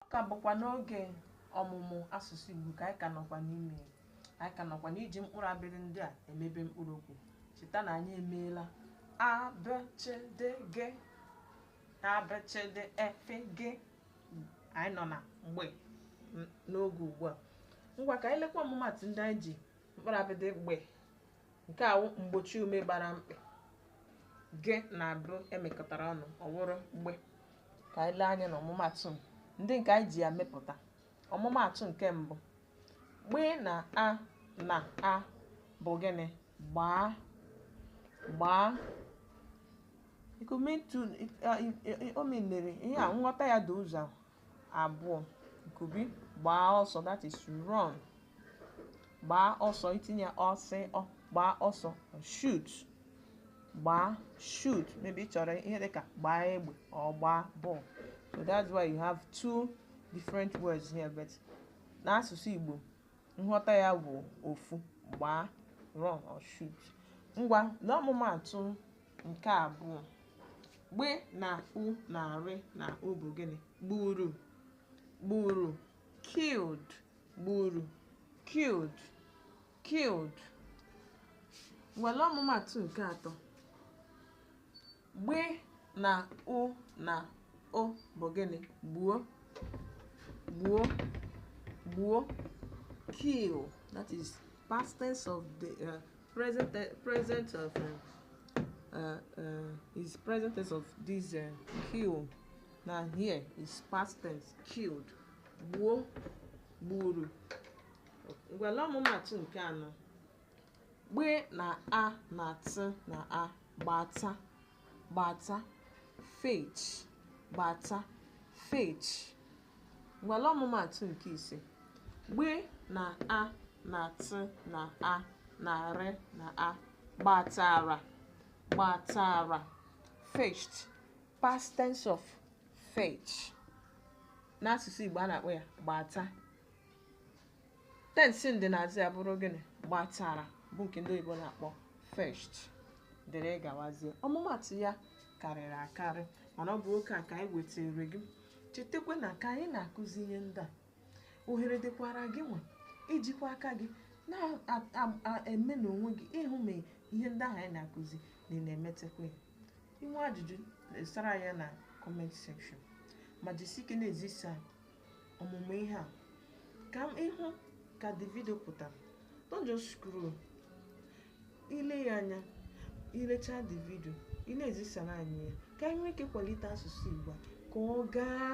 ọ ka bụkwa n'oge ọmụmụ asụsụ Igbo ka anyị ka nọkwa n'ime ya. anyị ka nọkwa n'iji mkpụrụ abịdịị ndị a emebe mkpụrụ okwu cheta na anyị emeela a b ch d g a b ch d e f g anyị nọ na gbe n- n'oge ugbu a ngwa ka anyị lekwa ọmụmatụ ndị anyị ji mkpụrụ abịdịị gbe nke a wụ mgbochiume gbara mkpị g na b e mekọtara ọnụ ọ wụrụ gbe ka anyị lee anya na ọmụmatụ ndị nke anyị ji ya mepụta ọmụmatụ nke mbụ gbe na a na a bụ gịnị gbaa gbaa ikume ntu o minere ihe a nghọta ya dị ụzọ abụọ nke mbụ gbaa ọsọ that is run gbaa ọsọ i tinye ọsọ gbaa ọsọ or shoot gbaa shoot maybe ị chọrọ ihe dịka gbaa egbe or gbaa ball so that's why you have two different words here but n'asụsụ Igbo nghọta ya bụ ofu gbaa run or shoot ngwa n'ọmụmaatụ nke abụọ gbe na u na rị na u bụ gịnị gburu gburu killed gburu killed killed ngwa lee ọmụmatụ nke atọ gbe na u na o bụ gịnị gbuo gbuo gbuo kill that is past tense of the uh, Present, te- present of uh, uh, uh, is present tense of this uh, kill. Now here is past tense killed. Gbuo, gburu. Ngwa lee ọmụmatụ nke anọ. Gbe na a na t na a gbata gbata fetch gbata fetch Ngwa lee ọmụmaatụ nke ise. Gbe na a na tị na a na rị na a gbatara gbatara fetched past tense of fetch n'asụsụ Igbo a na-akpọ ya gbata tensị ndịnaazụ ya bụrụ gịnị gbatara bụ nke ndị oyibo na-akpọ fetched dịrị gawazie ọmụmatụ ya karịrị akarị mana ọ bụ oke a ka anyị wetara gị chetakwa na ka anyị na-akụzi ihe ndị a ohere dịkwara gị nwa ijikwa aka gị na-eme n'onwe gị ịhụ ma ihe ndị ahụ anyị na-akụzi na ị na-emetakwa ya i nwee ajụjụ sara ya na comment section ma jisi ike na-ezisa ọmụmụ ihe a ka ị hụ ka the video pụtara don't just scroll ile ya anya i lechaa the video ị na-ezisara anyị ya ka anyị nwee ike kwalite asụsụ Igbo a ka ọ gaa